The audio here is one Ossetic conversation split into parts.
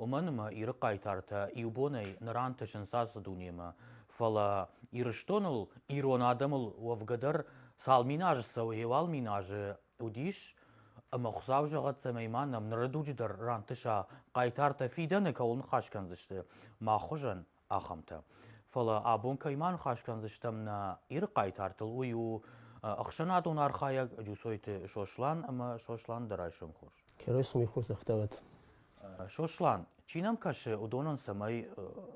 Уымӕн ӕмӕ Иры хъайтартӕ иу бонӕй ныр антысынц ацы дунемӕ, фӕлӕ Ирыстоныл, ирон адӕмыл уӕвгӕ дӕр цал мин азы цӕуы, еуал мин азы уыдис, ӕмӕ Хуыцау зӕгъӕд, цӕмӕй ма нӕм ныры дуджы дӕр рантыса хъайтартӕ фидӕны кӕуыл ныхас кӕндзысты мах хуызӕн, ахӕмтӕ. Фӕлӕ абон кӕй ма ныхас кӕндзыстӕм нӕ Иры хъайтартыл, уый у ӕхсӕнадон архайӕг Джусойты Сослан ӕмӕ Сослан дӕ райсом хорз. Райсомӕй хорз ӕхтӕвӕт. Сослан, чи нӕм кӕсы, уыдонӕн цӕмӕй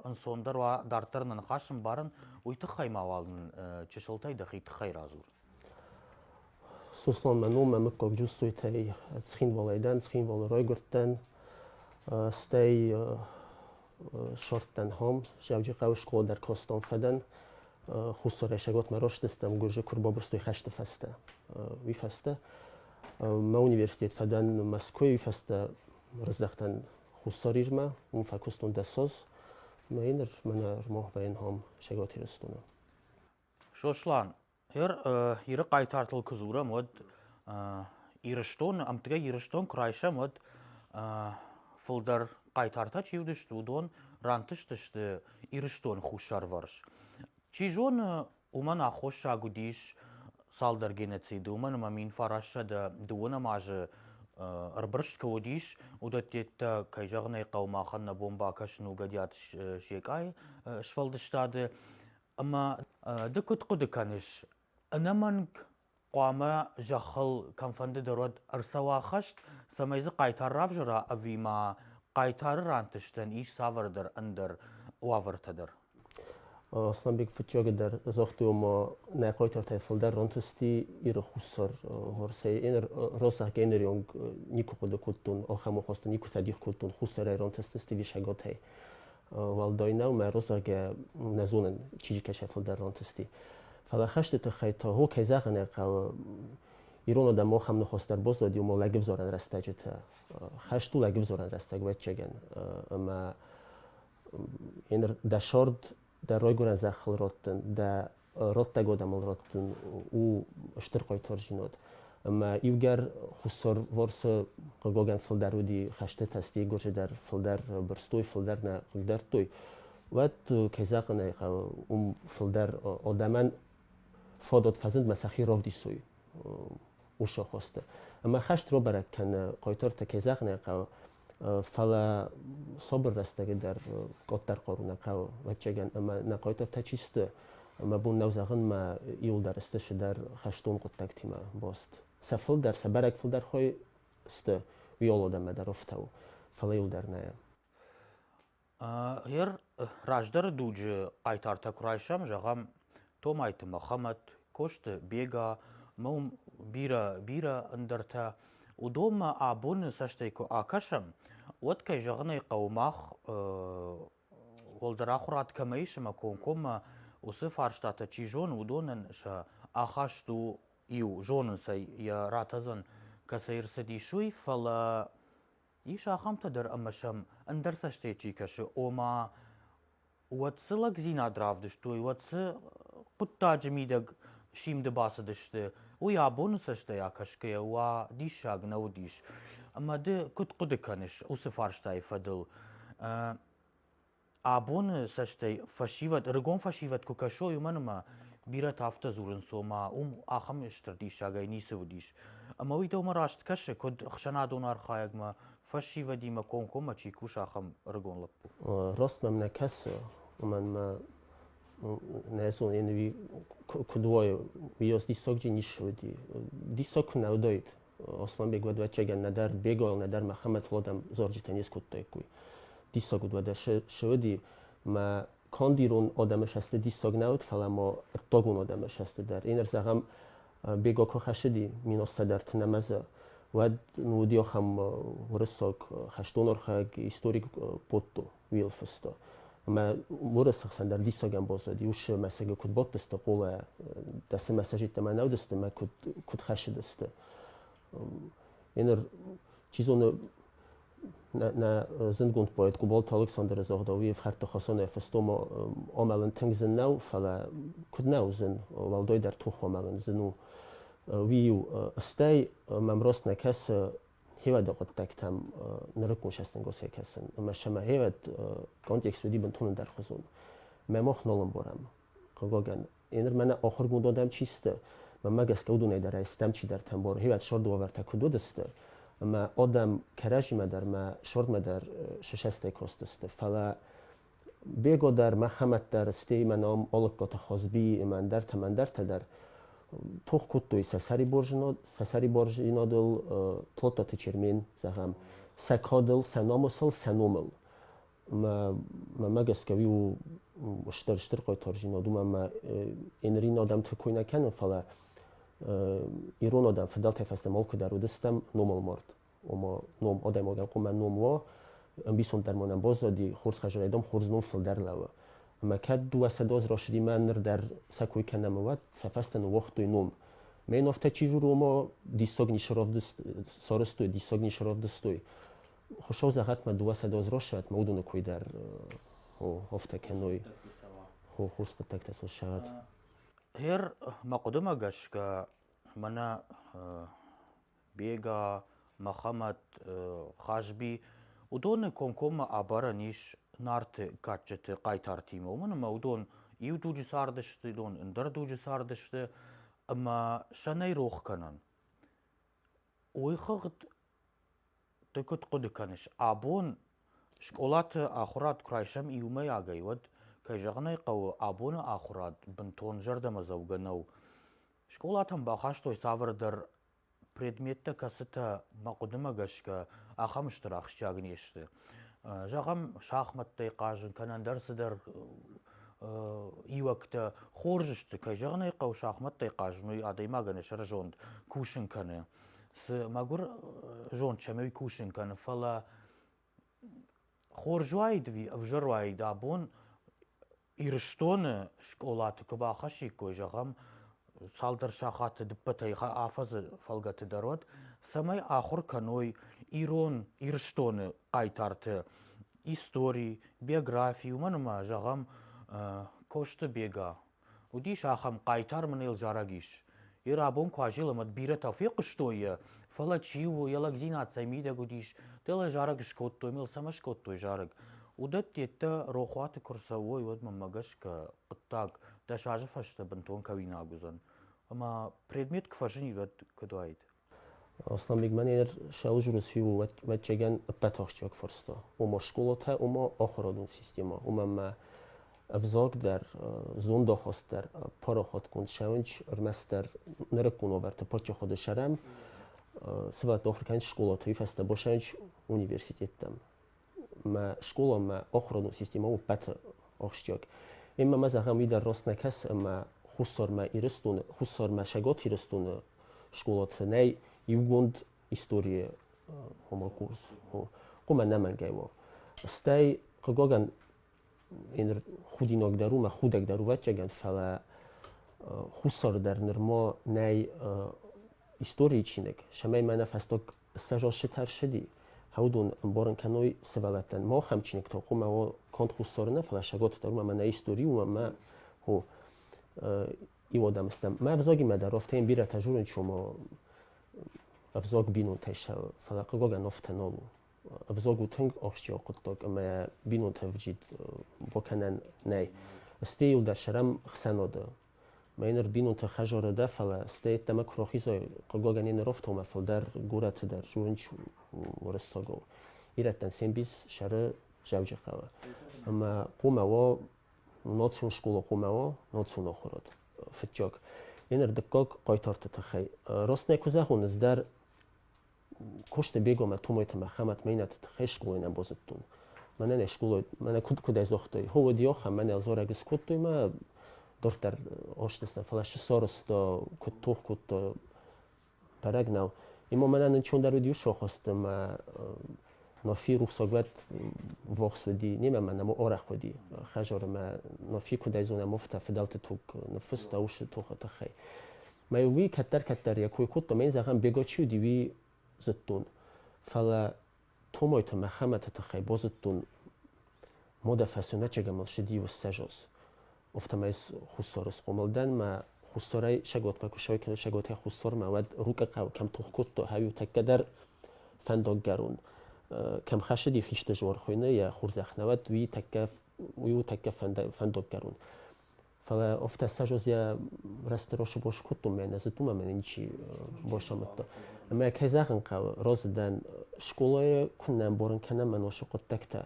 ӕнцондӕр уа, дарддӕр нӕ ныхас ӕмбарын, уый тыххӕй мауал нын чысылтӕй дӕхи тыххӕй радзур. Сосланмӕ номмӕ муггагджын Сойтӕй Цхинвалӕй дӕн, Цхинвалы райгуырдтӕн, стӕй ссардтӕн ам, Зӕвджихъӕуы скъолӕ дӕр кастам фӕдӕн. Хуссаррӕсӕгмӕ растыстӕм гуызы куы рбабырстой хӕсты фӕстӕ. Уый фӕстӕ мӕ университет фӕдӕн Мӕскуыйы, уый фӕстӕ ӕрыздӕхтӕн Хуссар Ирмӕ, уым фӕкуыстон дӕс аз. Мӕ ныр мӕ нырмагъ вӕййын ам, Цӕгат Ирыстоны. Сослан, Иры хъайтартыл куы дзурӕм, уӕд Ирыстон, ӕмтгӕй Ирыстон куы райсӕм, уӕд фылдӕр хъайтартӕ чи уыдысты, уыдон рантыстысты Ирыстоны хуссарвӕрс. Чи зоны, уымӕн аххосаг уыдис цалдӕр геноциды, уымӕн ӕмӕ мин фарассӕдӕ дыууӕнӕм азы ӕрбырст куы уыдис, уыдӕттӕ, кӕй зӕгъын ӕй хъӕуы, махӕн нӕ бон бакӕсын у Гӕдиаты Секъайы сфӕлдыстады Ӕмӕ ды куыд хъуыды кӕныс, ӕнӕмӕнг хъуамӕ зӕххыл кӕмфӕнды дӕр уӕд ӕрцӕуа хӕст, цӕмӕй дзы хъайтар равзара ӕви ма хъайтары рантыстӕн ис цавӕрдӕр ӕндӕр уавӕртӕ дӕр? Аслӕнбег фыццаджы дӕр загътой, ома нӕ хъайтартӕй фылдӕр рантысти Иры хуссар Уӕрӕсейы. Ен розаг энерионг никуы хъуыды кодтон, ахӕм ахастӕ никуы цӕдих кодтон, хуссарӕй рантысты стивисӕгатӕй. уӕлдайнау мӕ русагӕ нӕ зонын чижикӕсӕ фулдӕр ронтысти фӕлӕ хӕсты тыххӕй та гъо кӕй зӕгъын ӕй хъӕуы ирон адӕмон хам нихостӕр боздзади ума лӕгивзорӕн рӕстӕджытӕ хӕст у лӕгивзорӕн рӕстӕг уӕдчегӕн ӕмӕ ен дӕ сорд дӕ ройгурӕн зӕххыл родтын дӕ родтӕг адӕмыл раттын у стыр хъайтардзинад. ӕмӕ иугӕр хуссарварсы хъыгагӕн фылдӕр уыди хӕстытӕ, стӕй гуырджы дӕр фылдӕр бырстой, фылдӕр нӕ хъыгдардтой, уӕд, кӕй зӕгъын ӕй хъӕуы, уым фылдӕр адӕмӕн фадат фӕзынд сӕхи равдисой усы хосты. Ӕмӕ хӕст рабӕрӕг кӕны хъайтартӕ, кӕй зӕгъын ӕй хъӕуы, фӕлӕ сабыр рӕстӕги дӕр къаддӕр хъару нӕ кӕуы ӕвӕццӕгӕн ӕмӕ нӕ хъайтартӕ чи сты мӕ бон нӕу зӕгъынмӕ иуылдӕр сты шыдӕр хӕстон хъуыддӕгтимӕ баст сӕ фылдӕр сӕ бӕрӕг фылдӕр хой сты уыйолодӕмӕ дӕр ӕфтауы фӕлӕ иуылдӕр нӕ Гъер раздӕры дуджы хъайтартӕ куы райсӕм, зӕгъӕм, Томайты Мӕхӕмӕт, Косты Бега, ӕмӕ уым бирӕ, бирӕ ӕндӕртӕ, уыдонмӕ абоны цӕстӕй куы акӕсӕм, уӕд, кӕй зӕгъын ӕй хъӕуы, мах уӕлдӕр ахуырад кӕмӕ ис ӕмӕ комкоммӕ уыцы фарстатӕ чи зоны, уыдонӕн сӕ ахаст у иу, зонын сӕ, йӕ ратӕдзӕн кӕцӕй ӕрцыдис, уый, фӕлӕ Ис ахӕмтӕ дӕр ӕмӕ сӕм ӕндӕр цӕстӕй чи кӕсы, ома уӕд цы лӕгдзинад равдыстой, уӕд цы хъуыддаджы мидӕг симды бацыдысты, уый абоны цӕстӕй акӕсгӕйӕ уа диссаг нӕ уыдис. Ӕмӕ ды куыд хъуыды кӕныс уыцы фарстайы фӕдыл? Абоны цӕстӕй фӕсивӕд, ӕрыгон фӕсивӕд куы кӕсой, уымӕн ӕмӕ бирӕтӕ афтӕ дзурынц, ома уым ахӕм стыр диссагӕй ницы уыдис. Ӕмӕ уый дӕумӕ раст кӕсы, куыд ӕхсӕнадон архайӕгмӕ, фӕсивӕдимӕ комкоммӕ чи куса, ахӕм ӕрыгон лӕппу? Раст мӕм нӕ кӕсы, уымӕн мӕ нӕ зонын, уый куыд уайы, уый диссагджын низ уыди. Диссаг куы нӕ уыдаид, Осланбег уӕдвӕтчегӕн нӕдӕр Беголӕн, нӕдӕр Мӕхӕмӕтзгъодӕн зорджытӕ не скодтаиккой. Диссаг уыд уӕдӕ се, се уыди. Мӕ канд ирон адӕмы сӕсты диссаг нӕ уыд, фӕлӕ ма ӕддагон адӕмы сӕсты дӕр. Ин зӕгъӕм, Бего куы хӕссыди миноссӕдӕрты нӕмӕзы, уӕд ну уыди ахӕм уырыссаг хӕстон архайӕг, историк Потто. Уилфсты. Ӕмӕ уырысы хсӕн дӕр диссагӕн боц уыд, иу мӕсыгы куыд бодтысты къулӕ, дӕ цы мӕсӕджытӕ мӕнӕ уыдысты мӕ куыд, куыд хӕссыдысты. Йе ныр, чи зоны, нӕ, нӕ зындгонд поэт Къуболты Александры загъда, уый ӕфхӕрдты хосанӕй фыстом амӕлын тынг зын нӕу, фӕлӕ куыд нӕ уыдзӕн, уӕлдойдӕр тох амӕлын зын у. Уый-иу, стӕй мӕм рост нӕ кӕсы, Хевӕды хъуыддӕгтӕм нырыккон сӕстӕнгосӕй кӕсын, ӕмӕ сӕ мӕ хевӕд контекст уыди бынтон ӕндӕрхуызон. Мӕ мох нал ӕмбарӕм, хъыгагӕн. Ныр мӕнӕ охыргонд адӕм чи сты, мӕнмӕ гӕсгӕ уыдонӕй дӕр ӕй стӕм чидӕртӕ ӕмбары, хевӕд сӕрды уавӕртӕ куыд уыдысты, ӕмӕ адӕм кӕрӕдзимӕ дӕр мӕ сӕрдмӕ дӕр сысӕстӕй кастысты, фӕлӕ Бего дӕр, Мӕхӕмӕт дӕр, стӕй имӕ ном Олыккоты Хозбийы ӕмӕ ӕндӕртӕ-ӕндӕртӕ дӕр тох кодтой сӕ сӕриборзинадыл, Тлотаты Чермен, зӕгъӕм, сӕ кадыл, сӕ намысыл, сӕ номыл. Мӕмӕ гӕсгӕ уый у стыр-стыр хъайтардзинад, уымӕн ӕмӕ нырин адӕмты кой нӕ кӕны, фӕлӕ ирон адӕм фыдӕлтӕй фӕстӕмӕ алкуыдӕр уыдыстӕм номыл мард. ома ном адӕймагӕн къумӕ ном уа ӕмбисонддӕр ма нӕм баззади хурс хӕзарайдам хурс ном фулдӕр лӕуа ӕма кӕд дууӕ сӕдоз рашидимӕ нур дӕр сӕ кой кӕнӕмӕ уӕд сӕ фӕстӕ уогътой ном Мен офта чи руомо диссог соростой, диссог нишаравдыстой. Хушов загъат ма дуасадоз рошат, ма удоны койдар офта кӕной хурскъудтӕгтӕ сошат. Эр ма хъудумӕ гӕсгӕ мана Бега, Мӕхӕмӕт, Хазби, уыдоны комкоммӕ абарӕн ис Нарты кадджыты хъайтартимӕ, уымӕн ӕмӕ уыдон иу дуджы цардысты, уыдон ӕндӕр дуджы цардысты, ӕмӕ сӕ нӕй рох кӕнӕн. Уыйхыгъд ды куыд хъуыды кӕныс, абон скъолаты ахуырад куы райсӕм иумӕйагӕй, уӕд, кӕй зӕгъын ӕй хъӕуы, абоны ахуырад бынтон зӕрдӕмӕдзӕугӕ нӕу. Скъолатӕм бахастой цавӕрдӕр предметтӕ, кӕцытӕ мӕ хъуыдымӕ гӕсгӕ ахӕм стыр ахсджиаг не сты. Зӕгъӕм, шахмӕттӕй хъазын кӕнӕ ӕндӕр цыдӕр иуӕгтӕ. Хорз сты, кӕй зӕгъын ӕй хъӕуы, шахмӕттӕй хъазын уый адӕймагӕн йӕ сӕрызонд кусын кӕны. Цы мӕгуыр зонд сӕм уый кусын кӕны, фӕлӕ хорз уаид ӕви ӕвзӕр уаид абон ирыстоны скъолаты куы бахӕссиккой зӕгъӕм цалдӕр сахаты ӕппӕтӕй афӕдзы фӕлгӕты дӕр уӕд цӕмӕй ахуыр кӕной ирон ирыстоны хъайтарты истори биографи уымӕн ӕмӕ зӕгъӕм косты бега Уыдис ахӕм хъайтар мын йыл зарӕг ис. Йе рабон Куазил ӕмӕ бирӕтӕ фехъуыстой йӕ, фӕлӕ чи у, йӕ лӕгдзинад цӕй мидӕг уыдис, дӕлӕ зарӕг скодтой мыл, цӕмӕ скодтой зарӕг. Уыдӕтты йеддӕ рохуаты куы рцӕуой, уӕд мӕнмӕ гӕсгӕ хъуыддаг дӕс азы фӕстӕ бынтон кӕуинаг уыдзӕн. Ӕмӕ предмет куы фӕзынид, уӕд куыд уаид? Аслӕнбегмӕ нӕ ныр Сӕузурус фиуӕвӕтчегӕн ӕппӕт ахсджиаг фӕрстӕ, уымӕ скъолатӕ, уымӕ ахуырадон системӕ, уымӕ ма ӕвзаг дӕр, зондахаст дӕр, парахатгонд сӕвӕнч ӕрмӕстдӕр нырыккон уавӕрты паддзахады сӕрӕн, цы бадт ахуыр кӕнынц скъолаты, уый фӕстӕ басӕнч университеттӕм. мӕ скъолон мӕ охрон системӕ у пӕты ахсджиаг. Имӕ зӕгъӕм, уый дӕр рост нӕ кӕсы, ӕмӕ Хуссармӕ Ирыстоны, Хуссармӕ Цӕгат Ирыстоны скъолаты нӕй иугонд историйы хъуымы курс. Хъумӕ нӕмӕнгӕй у. Стӕй, хъыгагӕн, ныр худинагдӕр у, мӕ худӕгдӕр у ӕвӕццӕгӕн, фӕлӕ Хуссары дӕр нырма нӕй историйы чиныг, цӕмӕй мӕнӕ фӕстаг сӕ зоссӕ тӕрсыди, гьӕудон ӕмборун кӕнуй сывӕллӕттӕн. Мах ӕм чиныг тохъумӕ уо конд хуссорунӕ, фалӕ сӕготдӕрумӕ мӕнӕ истори уомӕ гьо иуодӕмстӕн. Мӕ ӕвзагимӕ дӕр уфтӕ ин бирӕтӕ зонун, че мо ӕвзаг бийнонтӕйсӕ, фалӕ хъугагӕн уфтӕ нол у. Ӕвзаг у тынг ахсджиаг хъуыддаг ӕмӕ бинонтӕ ӕвджид бакӕнӕн нӕй. Стӕй йыл дӕр сӕрӕм хсӕнадӕ Мӕ ныр бинонтӕ хӕдзары дӕ, фӕлӕ стӕй йеддӕмӕ куы рахизай, хъыгагӕн йӕ нырӕфтаумӕ фылдӕр горӕты дӕр зонынч уырыссагау. Ирӕттӕн се мбис сӕры Дзӕуджыхъӕуы. Ӕмӕ хъумӕ уа, национ скъола хъумӕ уа, национ ахуырад. Фыццаг. Йӕ ныр дыккаг хъайтарты тыххӕй. Раст нӕ куы зӕгъон, ӕз дӕр кости бегомӕ тумойти мӕхӕмӕт мейнӕтти хескъолайнӕн бозудтун мӕнӕн ескъолай мӕнӕ куд кудӕй зогътай хо уодиохӕ мӕнӕ дзорӕг искодтой ма дурддӕр оштесна фалӕ сусороста куд тох кодта бӕрӕг нӕу има мӕнӕн инчондӕр уди усохуста ма нофи рухсоглӕд вохс уди немӕ ма нӕму орех уди хажорӕ ма нофи кудӕй зонӕ муфта фидӕлти туг ниффиста уши тохи тыххӕй Мӕ уый кӕддӕр-кӕддӕр йӕ кой кодта, мӕн, зӕгъӕм, Бего чи уыди, уый зыдтон. Фӕлӕ Томойты Мӕхӕмӕты тыххӕй базыдтон модӕ фӕсонӕчегӕ мыл ссыди уыссӕжос. Офтамайс хуссары схъомылдӕн мӕ хуссарӕй Сӕготмӕ куы ссӕуой кӕнӕ Сӕготӕй хуссармӕ, уӕд Рукъы хъӕу кӕм тох кодта, ӕви тӕккӕ дӕр фӕндаггӕрон кӕм хӕссыди хисты жор хуыйны йӕ хурзӕхх, науӕд уый тӕккӕ уый у тӕккӕ фӕндаггӕрон. Фӕлӕ офтӕссажос я растрошы бос кодтон мӕ нӕ зыдтон ӕмӕ ничи бос амыдта. Ӕмӕ кӕй зӕгъын хъӕуы, розы дӕн скъолайы куыннӕ ӕмбарын кӕнӕм ӕносы хъуыддӕгтӕ,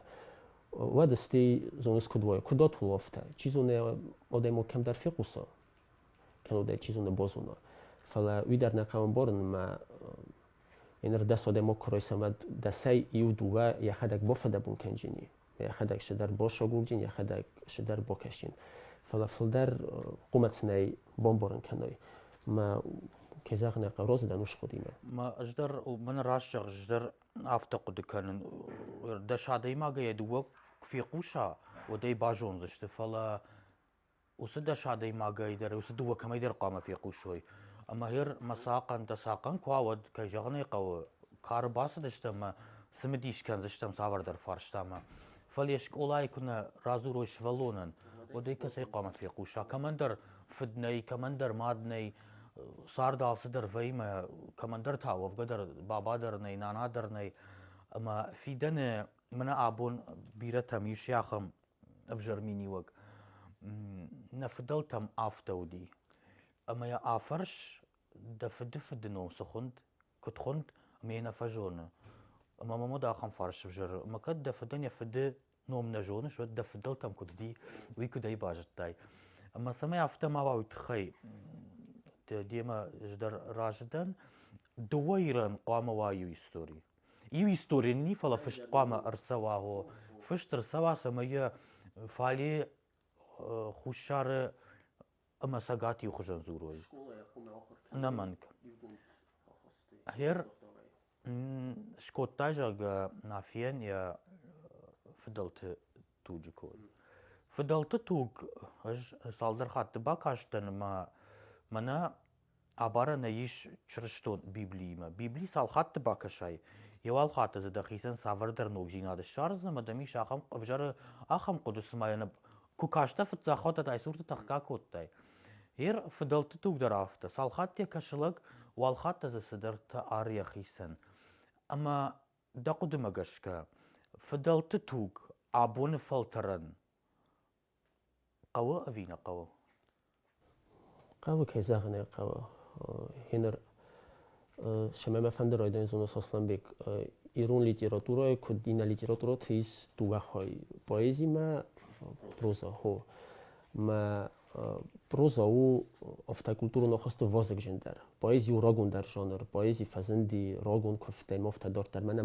уӕд стӕй зоныс куыд уайы, куыд отул офтӕ, чи зоны адӕмыл кӕмдӕр фехъуса, кӕнӕ дӕ чи зоны бозона. Фӕлӕ уый дӕр нӕ хъӕуы ӕмбарын ӕмӕ ныр дӕс адӕмы курой, цӕмӕ дӕсӕй иу-дыууӕ йӕхӕдӕг бафӕдабун кӕнджыни. йӕхӕдӕг цыдӕр босогугин, йӕхӕдӕг цыдӕр бокасин. Фӕлӕ фылдӕр хъумӕц нӕй бомборын кӕной. Мӕ кӕй зӕгъын ӕй хъӕуы, розы дӕн ускъудимӕ. Мӕ ӕз дӕр, мӕн раст зӕгъ, ӕз дӕр афтӕ хъуыды кӕнын. Дӕс адӕймагӕй йӕ дыууӕ куы фехъуса, уӕд ӕй базондзысты. Фӕлӕ уыцы дӕс адӕймагӕй дӕр, уыцы дыууӕ кӕмӕйдӕр хъуамӕ фехъусой. Ӕмӕ гьер мӕ цахъӕн, дӕ цахъӕн куы уа, уӕд, кӕй зӕгъын ӕй хъӕуы, кары бацыдыстӕм ӕмӕ цымыдис кӕндзыстӕм цавӕрдӕр фарстамӕ. Фӕлӕ йӕ скъолайы куы нӕ радзурой сывӕллонӕн, уӕд ӕй кӕцӕй хъуамӕ фехъуса? Кӕмӕндӕр фыд нӕй, кӕмӕндӕр мад нӕй, цард алцыдӕр вӕййы, кӕмӕндӕр та уӕвгӕ дӕр баба дӕр нӕй, нана дӕр нӕй. Ӕмӕ фидӕны мӕнӕ абон бирӕтӕм ис ахӕм ӕвзӕр миниуӕг нӕ фыдӕлтӕм афтӕ уыди. Ӕмӕ йӕ афӕрс, дӕ фыды фыды ном цы хуынд, куыд хуынд, ӕмӕ йӕ нӕ фӕзоны. Ӕмӕ мӕм уыд ахӕм фарс ӕвзӕр, ӕмӕ кӕд дӕ фыдӕн йӕ фыды ном нӕ зоныс, уӕд дӕ фыдӕлтӕм куыд уыди, уый куыдӕй базыдтай. Ӕмӕ цӕмӕй афтӕ ма уа уый тыххӕй, демӕ ӕз дӕр разы дӕн. Дыууӕ ирӕн хъуамӕ уа иу истори. Иу истори нини, фал фыст хъуамӕ ӕрцӕуа. Гъо. Фыст ӕрцӕуа, цӕмӕй йӕ фали э, хуссары ӕмӕ цӕгат-иу хуызӕн дзурой. Скъолайы хъуын ахуыртӕ Ӕнӕмӕнг. ивгонд ахастой. Гъер- докторӕй. М, Скодта, зӕгъгӕ, Нафийӕн йӕ фыдӕлты туджы код. Фыдӕлты туг ӕз цалдӕр хатты бакастӕн ӕмӕ мӕнӕ Абарӕнӕй ис чырыстон Библиимӕ. Библи цал хатты бакӕсай, йе уал хатты дзы дӕхицӕн цавӕрдӕр ногдзинад ссардзынӕ, ӕмӕ дӕм ис ахӕм ӕвзӕры ахӕм хъуыды, цыма йӕ нӕ куы кастӕ фыццагхаттат айсурты тӕхгӕ кодтай. Йе рфыдӕлтты туг дӕр афтӕ. Цал хатт йӕ кӕсы лӕг, уал хатт та дзы цыдӕртӕ ары йӕхицӕн. Ӕмӕ дӕ хъуыдымӕ гӕсгӕ, фыдӕлты туг абоны фӕлтӕрӕн хъӕуы ӕви нӕ хъӕуы хъӕуы кӕй зӕгъын ӕй хъӕуы ӕ ныр семӕ мӕ фӕнды райдайын зонӕ сослӕнбег ирон литературӕйы куыд иннӕ литературӕты ис дыууӕ хай поэзимӕ проза хо мӕ проза у ӕфтӕкультурон ӕххӕсты вазыгджын дӕр поэзи у рагондӕр жанр поэзи фӕзынди рагон куывдтӕй ма фтӕдӕрддӕр мӕнӕ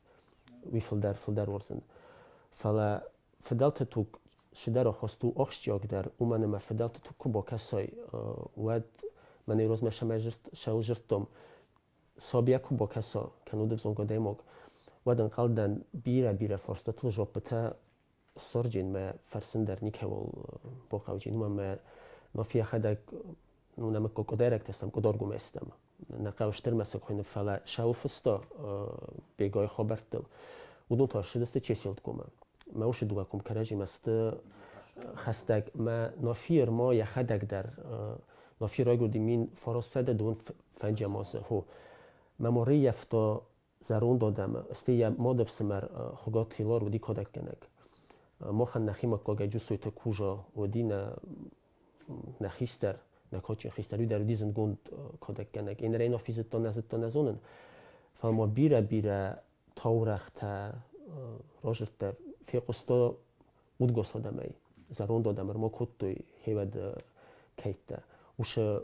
уый фылдӕр фылдӕр уордзӕн. Фӕлӕ фыдӕлты туг шыдӕр хосту охсджиагдӕр, уымӕн ӕмӕ фыдӕлты туг куы бокӕсой, уӕд мӕнӕй розмӕ шӕмӕй зырдтом, собийӕ куы бокӕсо, кӕнӕ уыд ӕвзонг адӕймаг, уӕд ӕнхъӕлдӕн бирӕ-бирӕ фарстатыл жоппытӕ сорджинмӕ фӕрсын дӕр никӕуыл бохъауджин, ӕмӕ но фӕхӕдӕг ну нӕмӕ кокодайрӕгтӕ сӕм кодоргумӕ стӕм. Нӕ хъӕустырмӕ сӕ куйны фӕлӕ сауфыста бегой хабӕрттыл. Уыдон тӕрсыдысты чеселткомӕ. Мӕ усы дуга кум кӕрӕжимӕ сты хӕстӕг. Мӕ нофи ма йӕхӕдӕг дӕр нофи райгуырди мин фароссӕдӕ дун фӕнджамосы ху. Мӕ морыййӕфта зӕронд адӕмы, стӕй йӕ мады ӕфсымӕр Хуыгаты Хилар уыди кадӕггӕнӕг. Махӕн нӕхимӕ куагӕ Джусойты Кужа уыди нӕ нӕ хистӕр, нӕ кадджын хистӕр, уый дӕр уыди зындгонд кадӕггӕнӕг. Én рейn афи зыдта, нӕ зыдта, нӕ зонын. Фӕлӕ ма бирӕ-бирӕ таурӕгътӕ разыдта, фехъуыста удгас адӕмӕй, зӕронд адӕм ӕрма кодтой, хевӕд кӕйттӕ. Уышы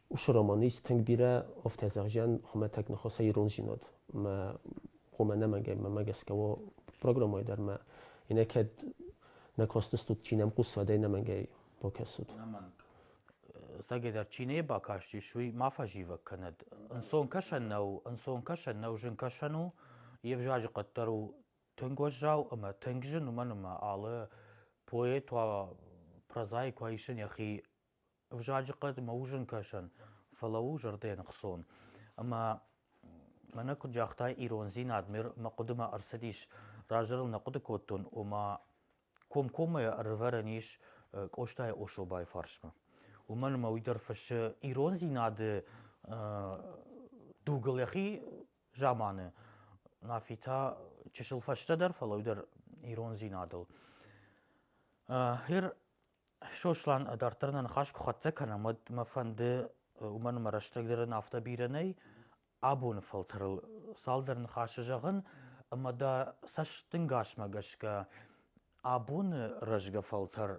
уыцы романист тынг бирӕ ӕфтӕдзӕгъзиан хуымӕтӕг ныхаса иронзинад мӕ хъомӕ ӕнӕмӕнгӕй мӕмӕ гӕсгӕ уо программӕйы дӕр мӕ инакӕд нӕ косдзыстут чи нӕм хъусдзӕн ӕнӕмӕнгӕй бакӕсут Сагидар, чи не бакастис, уый ма фӕзивӕг кӕнӕд. Ӕнцонкӕсӕн нӕу, ӕнцонкӕсӕн нӕу, зынкӕсӕн у, йе взаджы къаддӕр у тынг уӕззау ӕмӕ тынг зын, уымӕн ӕмӕ алы поэт уа прозаик уа исын йӕхи Ӕвзаджы хъӕд мӕ у зынгкӕсӕн, фӕлӕ у зӕрдӕныхсон. Ӕмӕ мӕнӕ куыд загъта ирондзинад, мӕ хъуыдымӕ ӕрцыдис, раздӕр ыл нӕ хъуыды кодтон, ома комкоммӕ ӕрывӕрӕн ис Къостайы Особайы фарсмӕ. Уымӕн ӕмӕ уый дӕр фыссы ирондзинады дугыл йӕхи заманы, Нафи та чысыл фӕстӕдӕр, фӕлӕ уый дӕр ирондзинадыл. Гъер Сослан дарддӕр нӕ ныхас куы хӕццӕ кӕнӕм, уӕд мӕ фӕнды уымӕн ӕмӕ рӕстӕгдӕр ын афтӕ бирӕ нӕй абоны фӕлтӕрыл цалдӕр ныхасы зӕгъын, ӕмӕ дӕ цӕстӕнгасмӕ гӕсгӕ абоны рӕзгӕ фӕлтӕр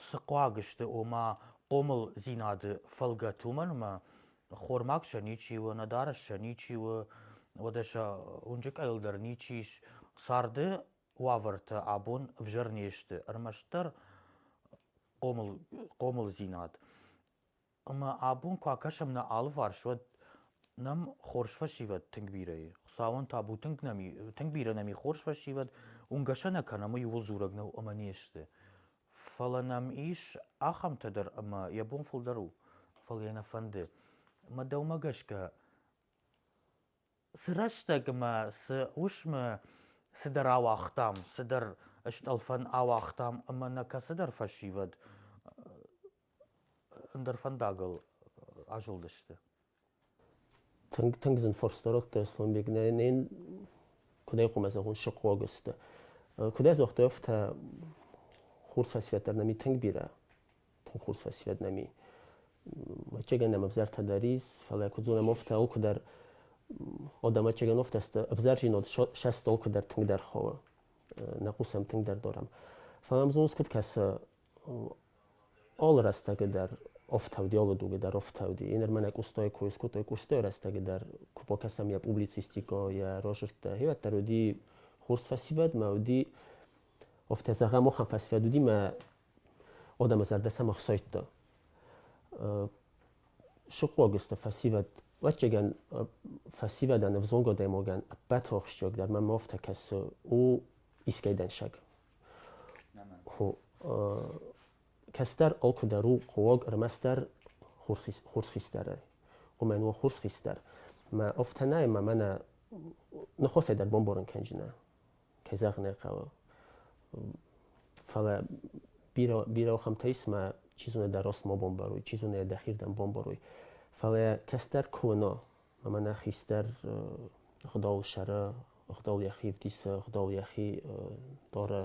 цы хъуаг сты, ома хъомылдзинады фӕлгӕт, уымӕн ӕмӕ хормаг сӕ ничи у, ӕнӕдарӕс сӕ ничи у, уӕдӕ сӕ уынджы къӕйыл дӕр ничи ис. Царды уавӕртӕ абон ӕвзӕр не сты. Ӕрмӕстдӕр хъомыл, хъомылдзинад. Ӕмӕ абон куы акӕсӕм нӕ алыварс, уӕд нӕм хорз фӕсивӕд тынг бирӕ и. Хуыцауӕн табу тынг нӕм и, тынг бирӕ нӕм и хорз фӕсивӕд, уынгӕсӕ нӕ кӕнӕм, ууыл дзурӕг нӕу ӕмӕ не сты. Фӕлӕ нӕм ис ахӕмтӕ дӕр, ӕмӕ йӕ бон фылдӕр у, фӕлӕ йӕ нӕ фӕнды. Мӕ дӕумӕ гӕсгӕ, Сырӕстӕгмӕ цы уысмы цыдӕр ауагътам, цыдӕр стъӕлфӕн ауагътам ӕмӕ нӕ кӕцыдӕр фӕсивӕд ӕндӕр фӕндагыл азылдысты. Тынг, тынг зын фарста радтай, Аслӕнбег. Нӕ, нӕ куыд айхъуыма зӕгъон, сыхъхъуаг сты. Куыд ӕдзух дӕ афтӕ, хур цасфӕддӕр нӕми тынг бирӕ тоху со сведнами ӕвӕццӕгӕн ӕм ӕвзартӕ дарис фӕлӕ куыд зонӕм офтӕ алкуыдӕр одам ӕвӕццӕгӕн офтӕ ӕвзӕрзинод сӕст алкуыдӕр тынгдӕр хауы нӕ хъусӕм тынгдӕр дорам фӕлӕ ӕмзонс куыд кӕсы алы рӕстӕгы дӕр офтауди алы дуги дӕр офтауди ин ӕрмӕн ӕкустой кой скодтой кустой рӕстӕгы дӕр куы покӕсам йӕ публицистико йӕ рожерттӕ хевӕддӕр уди хурс фӕсивӕд ма уди офтӕ зӕгъӕм охӕн фӕсивӕд уди ма уӕд ӕмӕ зӕрдӕ сӕм ӕхсайдта. Сыхъуаг сты фӕсивӕд. Ӕвӕццӕгӕн, фӕсивӕдӕн, ӕвзонг адӕймагӕн ӕппӕт ахсджиагдӕр мӕм афтӕ кӕсы, у искӕй дӕнсӕг. Кӕстӕр алкӕдӕр у хъуаг ӕрмӕстдӕр хорз хистӕрӕй. Уымӕн уа хорз хистӕр. Мӕ афтӕ нӕй, ӕмӕ мӕнӕ ныхасӕй дӕр бамбарын кӕнджынӕ. кӕй зӕгъын ӕй хъӕуы. Фӕлӕ бирӕ бирӕ ахӕмтӕ ис, ӕмӕ чи зоны дӕ рост ма бомбаруй, чи зоны дӕхирдӕм бомбаруй. Фӕлӕ кӕстӕр куы уыно, ӕмӕ нӕ хистӕр Хуыдауыл сӕры, Хуыдау йӕхи ӕвдисы, Хуыдау йӕхи дары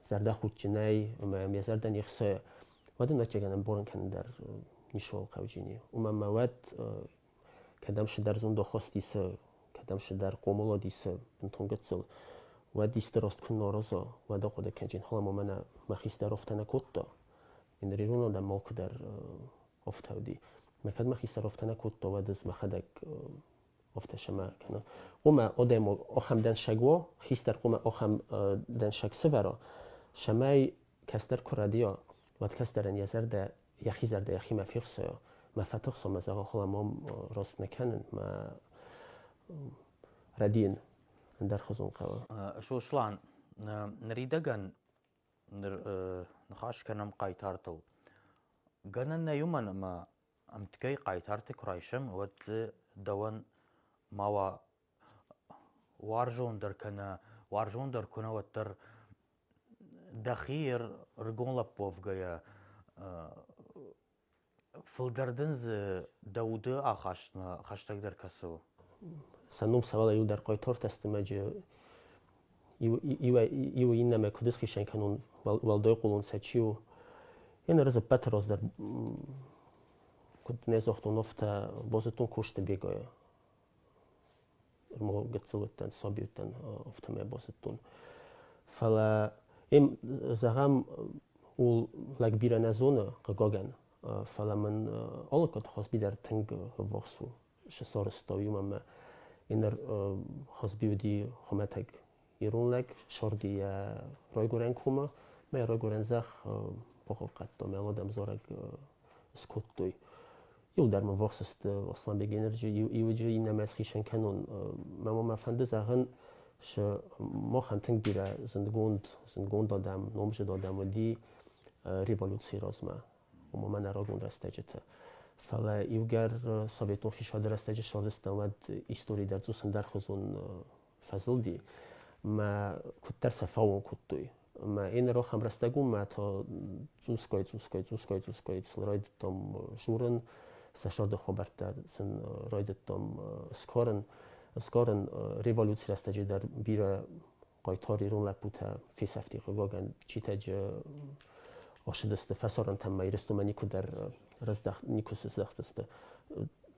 зӕрдӕхудджынӕй, ӕмӕ йӕм йӕ зӕрдӕ не хсайы, уӕд ын ӕцӕгӕн ӕмбарын кӕнын дӕр ницы хъӕуы зыни. Уымӕн ӕмӕ уӕд кӕдӕм цыдӕр зондахасти цы, кӕдӕм цыдӕр хъомылади цы бынтон гыццыл, уӕд исты раст куы нӕ араза, уӕд ахъуыды кӕнин, хӕлам ӕмӕ мӕнӕ мӕ хистӕр афтӕ нӕ кодта. Мин ирон адӕм алкуыдӕр афтӕ уыди. Мӕ кӕд мӕ хистӕр афтӕ нӕ кодта, уӕд ӕз мӕхӕдӕг афтӕ сӕмӕ кӕнон. Омӕ адӕм ахӕм дӕншаг уа, хистӕр омӕ ахӕм дӕншаг сӕвӕра, сӕмӕй кӕстӕр куы рӕдийа, уӕд кӕстӕрӕн йӕ зӕрдӕ йӕхи зӕрдӕ йӕхимӕ фехсы мӕ фӕтыхсы мӕ зӕгъы хуыла мом рост нӕ кӕнын мӕ рӕдийын ӕндӕрхуызон хъӕуы сослан ныридӕгӕн ныр ныхас кӕнӕм хъайтартыл гӕнӕн нӕй уымӕн ӕмӕ ӕмтгӕй хъайтарты куы райсӕм уӕд дзы дӕуӕн ма уа Уарзондӕр кӕнӕ уарзондӕр куы нӕ, уӕддӕр дӕхи ӕргом лӕппуӕвгӕйӕ фылдӕр дын дзы дӕ уды ахастмӕ хӕстӕгдӕр кӕсы. Сӕ ном сӕвӕрдта иудар Хъайтартӕ Астемӕджы. Иу, иуӕй, иуы иннӕмӕ куыд ысхицӕн кӕнон, уӕл, уӕлдай хъулон сӕ чи у. Йӕ ныр ӕз ӕппӕты раздӕр куыд нӕ загътон, афтӕ Бозытон Костыбегӕй ӕма гӕццӕ уӕдтан саби уӕдтан афтӕмӕй бацудтон. Фалӕ ем, зӕгъӕм, ул лӕг бирӕ нӕ зоны, хъыгагӕн, фалӕ мӕн алаккаг Хазби дӕр тынг ввахс у, сӕ сӕрыстау у ӕмӕ ӕнӕ Хазби уыди хуымӕтӕг ирон лӕг сорди йӕ райгурӕн коммӕ мӕ йӕ райгурӕн зӕхх похуыхъӕдтон мӕ уӕдӕм дзорӕг скодтой иудӕр мын вахс сты осланбег энерджи иуджы иннӕмӕ схицӕн кӕнон мӕ мӕ фӕнды зӕгъын сы махӕн тынг бирӕ зындгонд зындгонд адӕм номжыд адӕм уыди революцийы размӕ ома мӕнӕ рагон рӕстӕджыты фӕлӕ иугӕр советон хисады рӕстӕджы сарызтам уӕд истори дӕр цъусындӕрхуызон фӕзылди мӕ куддӕр сӕ фӕуон кодтой ӕма ин ӕрохӕн рӕстӕг ун мӕтӕ цъусгай цъусгай цъусгай цъусгай сын райдӕдтам журын сӕ сӕрди хабӕрттӕ сын райдӕдтам скорын скорын революций рӕстӕги дӕр бирӕ хъайтар ирон лӕппутӕ фесӕфти хъугагӕн читӕджи ошидӕсти фӕсорӕнтӕн ма иристумӕ никудӕр нику сыздӕхтисти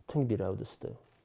тынг бирӕ уыдысты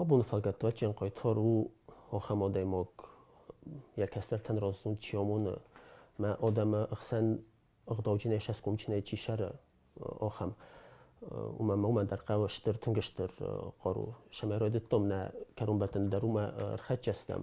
Абон фӕлгӕтдвачен хъайтар у ахӕм адӕймаг, йӕ кӕстӕртӕн раздзог чи амоны, мӕ адӕмы ӕхсӕн ӕгъдауджынӕй сӕсгомджынӕй чи сӕры, ахӕм. Уымӕн ма уымӕн дӕр хъӕуы стыр, тынг стыр хъару. Стӕмӕй райдыдтам нӕ кӕронбӕттӕны дӕр уымӕ ӕрхӕццӕ стӕм.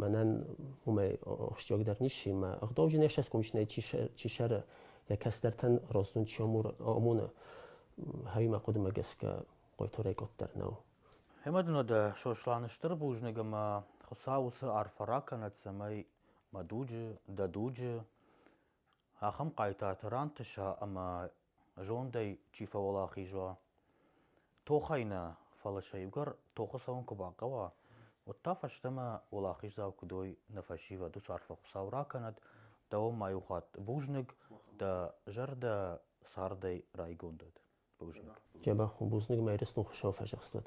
мӕнӕн уымӕй ахсджиагдӕр нисси мӕ ӕгъдауджынӕй ӕхсӕзкомисинӕй чи сӕры йӕ кӕсдӕртӕн роздзон чи амоны хӕримӕ хъуыдымӕ гӕсгӕ хъойторӕй къоддӕр нӕу Ӕмӕ дын уӕдӕ Сосланы стыр бузныг ӕмӕ Хуыцау уыцы арфӕ ракӕнӕд, цӕмӕй мӕ дуджы, дӕ дуджы ахӕм хъайтарты рантыса ӕмӕ Зондӕй чи фӕуӕлахиз уа, тохӕй нӕ, фӕлӕ сӕугӕр тохы цӕуын куы бахъӕуа, уӕд та фӕстӕмӕ уӕлахиздзау куыд уой нӕ фӕсивӕд, уыцы арфӕ Хуыцау ракӕнӕд, дӕуӕн ма иу хатт бузныг, дӕ зӕрдӕ цардӕй райгонд уӕд. Бузныг. Джабах, бузныг мӕ Ирыстон Хуыщау фӕзӕхстуӕд!